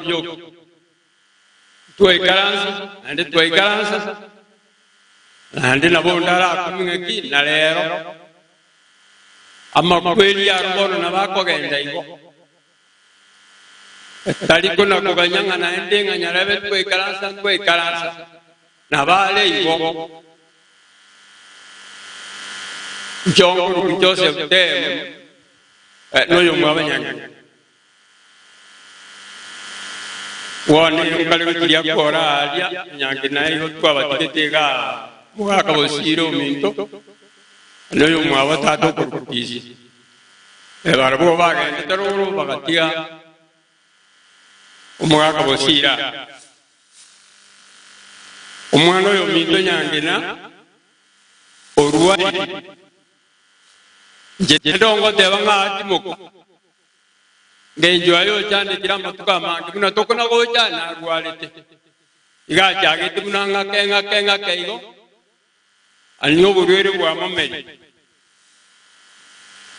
bioka. Ntwaikaransa naende twaikaransa, naende nabo onde arakumie ng'aki na reero. Amakweri aro bono nabo akogenda igo, tari konakoganya ng'a naende ng'a nyarebe twaikaransa ntwaikaransa, nabo are igo. Nchooka korokwa Joseph Teem, eh, noyomo bw'abanyang'ina. Bono inkare gochiria kora aaria, onyangi naigo twabatigete iga aa, mogaaka bosiire ominto, na oyomwabo tata okorokwa Kisi. Ee, barabwo bagendete roro, bagatiga omogaaka bosiire aa. Omwana oyominto nyangi na orwarire. Inche tindongoteba ng'a, Timoka. Ng'encho aye ochandekire amatuko amange buna tokona gocha narwarete, iga achagete buna ng'ake ng'ake ng'ake igo, ani oborwere bwa momeri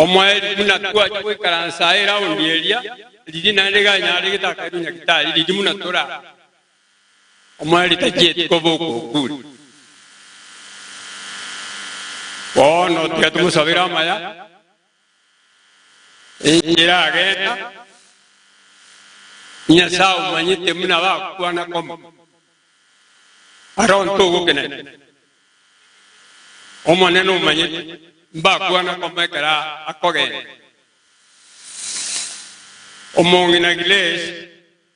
omoeri buna twacha goikaransa aye raundi eria riria naende iga anyare getaka airwe nyagitari riria buna tore aa omoeri tachieti koba okokure. Bono tiga tomosabere amaya. Enchera agenda, Nyasae omanyete buna bakwana koma. Aronto ogokina ime. Omonene omanyete mbakwana koma ekero akogenda. Omong'ina Grace.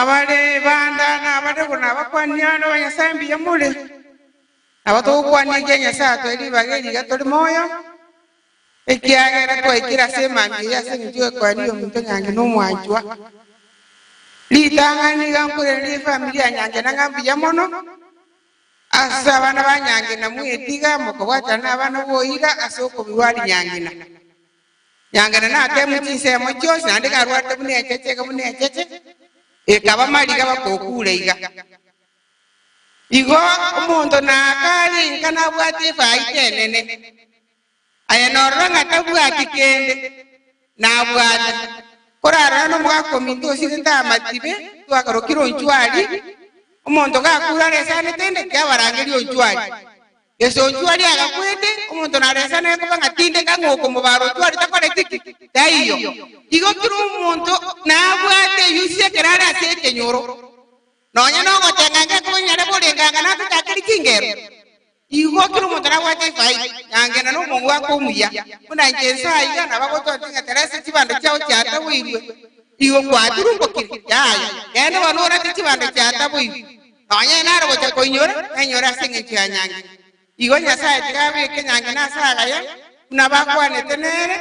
Abare banda nabarebo nabakwanire abana ba Nyasae mbuya more. Nabo togokwania ekia Nyasae atwae ribaga eri iga tore moyo, ekiagera twaikire ase emambia eye ase engencho y'ekoeri y'ominto nyange na omwanchwa. Ritang'ani nigo nkoiraneria efamiri ya nyange na ng'a mbuya mono ase abana ba nyange na mwetiga mokobwatana nabana boira ase okobua ari nyangina. Nyangena natemu chinsemo chionsi, naende garwate buna encheche, eke buna encheche, ekaba mariga bakokuura iga. Igo omonto nakaare inka nabwate efaita enene, aye norora ng'a tabwati kende, nabwate, korarora nomogaka ominto osiirete amatibe, twakarokire onchwari, omonto gakuura aresanete inde, kiabarangeri onchwari. Yeso onchwo aria agakwete, omonto naresane koba ng'a tindeka ng'a okomobara onchwo aria takoreti ki? Taiyo. Igo kera omonto nabwate eyusia ekero are ase ekenyoro, nonya nogoteng'a ngekoba nyare korenga ng'a natatakerie chingero. Igo kera omonto nabwate efaida, yangenda nomongu wake omuya. Buna inche inse aiga, nabo agotoonchia ng'a teresa chibando chiao chiataboirwe, igo kwaturumbokire. Yaya, genda obanuurate chibando chiataboirwe. Nonya inee nare gocha koinyora? Nainyore ase engencho ya nyangi. Igo Nyasae tiga abeke nyangi na ase agaya, buna bakwanete nere,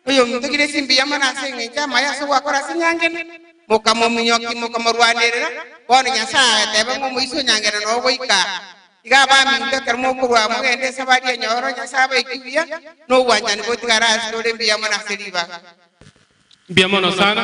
Oyominto gire chimbiya mono ase engencho y'amaya ase ogwakora ase enyangena, mokamominyoki, mokamorwanerera. Bono Nyasae agateba ng'a omoisia o nyangena noyo goika aa. Tiga abaminto ekero mokorwa aa mogende ase abari enyoro, Nyasae abaike buya, na obwanchani botigare ase ore mbiya mono ase ribaga. Mbiya mono sana.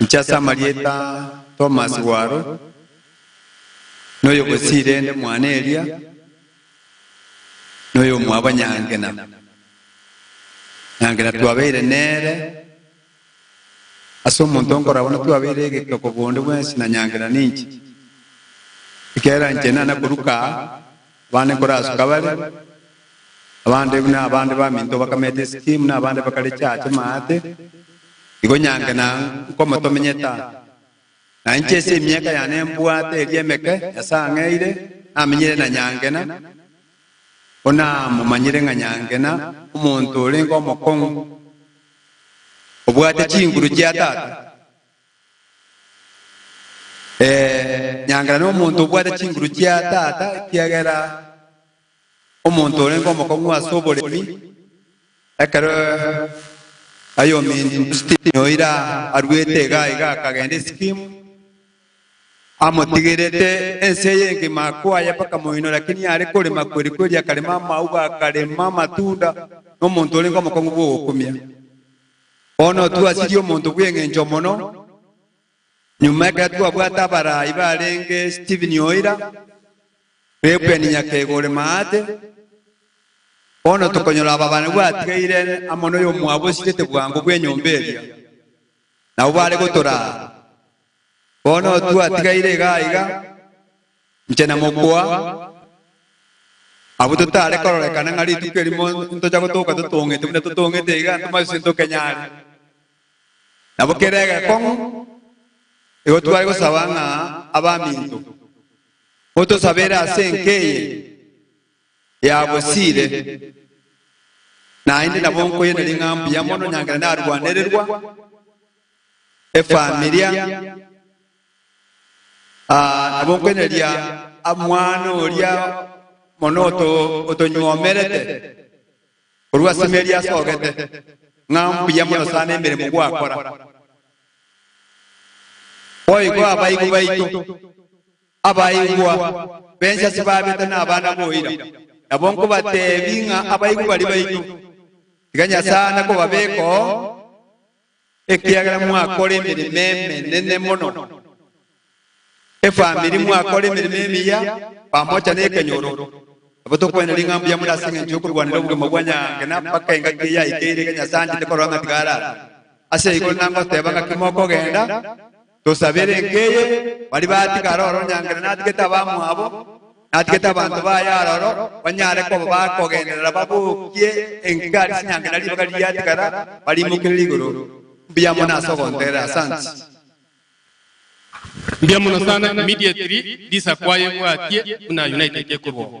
Inche ase amarieta Thomas Waro, noyogosiire nde mwane eria, noyomwabo Nyangena. Nyangena twabeire nere ase omonto onkorabwo natwabeire egetoko bonde bwensi na Nyangena ninche. Ekiagera inche nana koruka aa. Abande nkorasoka bare, abande buna abande baminto bakamete esiki, buna abande bakareche aache maate, igo nyange na nkomotomenyete aa. Na inche ase emiaka yane mbwate eria emeke, Nyasae ang'eire, namenyire na nyange na, ko namomanyire ng'a nyange na omonto orenge omokong'u, obwate chinguru chia tata. Ee, nyangera nomonto obwate chinguru chia tata, ekiagera omonto orenge omokong'u ase oboremi, ekero ayominto Stephen oira aruete iga iga akagenda esikimu, amotigerete ense eye engima kwaye mpaka moino lakini are korema kweri kweri akarema amauga akarema amatunda, nomonto orenge omokong'u bw'ogokumia. Bono twasirie omonto bw'engencho mono, nyuma ekero twabwate abarai barenge Stephen oira, Reuben Nyakega ore Maate, bono tokonyora aba bane bwatigaire amo noyomwabo osirete bwango bw'enyomba eria, nabo bare gotoraa. Bono twatigaire iga aiga, inche na mokwa, abwo totare kororekana ng'a rituko erimo ntocha gotoka totong'ete buna totong'ete iga, ntomanyiswe ntokenyare. Nabo kera egekong'u igo tware gosaba ng'a abaminto motosabere ase enka eye ya bosire, naende nabo nkoyene ring'a mbuya mono nyangera narwanererwa. efamilia, nabo nkoinyeria mwana oria mono otonywomerete korwa ase emeeri asogete, ng'a mbuya mono sana emeremo gwakora. Boigo abaibwa baito, abaibwa b'ense ase babete nabana boira, nabo nkobateebia ng'a abaibwa baria baito, tiga Nyasae ane kobabekoo. ekiagera mwakora emeremo emenene mono. Efamiri mwakora emeremo emiya pamoja nekenyoro. Nabo tokwenerera ing'a mbuya more ase engencho y'okorwanera obogima bwa nyaange na mpaka engaki eye yaikeire, iga Nyasae anchete korora ng'a tigarara ase igoro na ngoteeba ng'aki mokogenda, Tosabere enka eye, baria batiga aroro onye angere natigete abamwabo, natigete abanto baye aroro, banyare koba bakogenderera babokie enka aria chinyancha na ribaga riatigara, bariimokerere igoro. Mbuya mono ase ogontegerera. Asanti. Mbuya mono sana immediately Lisa kwaye bwatie buna united ekorwa oo.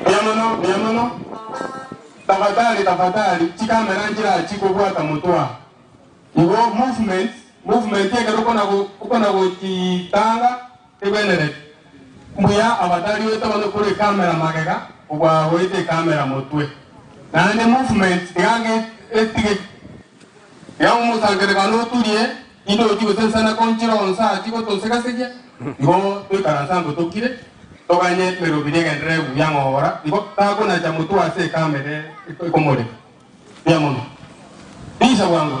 Mbuya mono, mbuya mono. Tafadhali, tafadhali, chikamera nchirachi kobwata motwe aa. Igo movement, movement ekero okona go, okona gochitanga egwenereti. Mbuya afadhali oete bono kore ekamera magega, obwa oete ekamera motwe. Naende movement iga ge, etige iga omosangererekano oturie, Nigo ochi gosesana konchire onsi aachie gotosegasegia, igo toikaransa angwe tokire, toganye emerobiri egenderere egugu ya ng'ogora, igo takonacha motwe ase ekama ere ekomoreka. Mbuya mono. Risa bwango.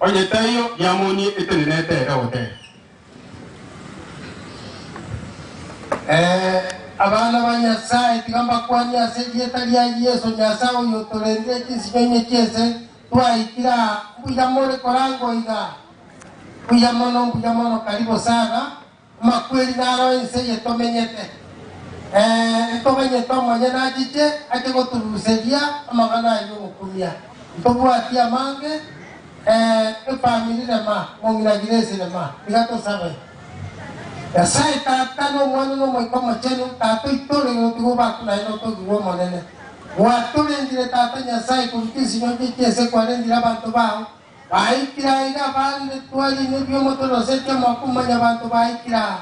Onye taiyo, yamonie etenenete ere ote. Ee, abana ba Nyasae, tiga mbakwanie ase erieta ria Yeso Nyasae oyotorenire chinsinyoinyo chi'ense twaikire aa, mbuya more korangwa oiga. Mbuya mono, mbuya mono, karibo sana. Amakweri naro ense eye tomenyete, ee, ntomenyete omonyene achiche ake gotoruseria amang'ana aye y'omokumia. Ntobwati amange, ee, efamiri rema, mong'ina Grace rema. Tiga tosabe. Nyasae Tata, na Omwana, na Omoika Omochenu, Tata oito ore igoro, tiga obakwe naye notogigwe Omonene. Bwatorendire, Tata Nyasae, korwa chinsinyo chie chinse kwarendire abanto bao, Baikire aiga baari bitwari nebio motorosetie omwaka omwanyabanto baikire aa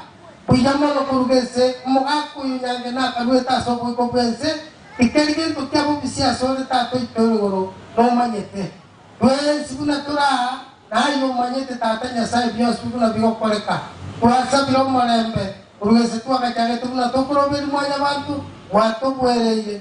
buya mono koruga ense, omogaka oyo nyange nakaruete ase oboiko bwense, tikeri gento kia bobisi ase ore tata oito origoro nomanyete. Twensi buna tore aa naye omanyete tata Nyasaye bionsi buna bigokoreka. Twasabire omorembe koruga ense twagachagete buna tokoroberia mwanyabanto gwatoboereire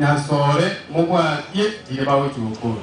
Nyasoore mobwatie tiri bagochia gokorwa.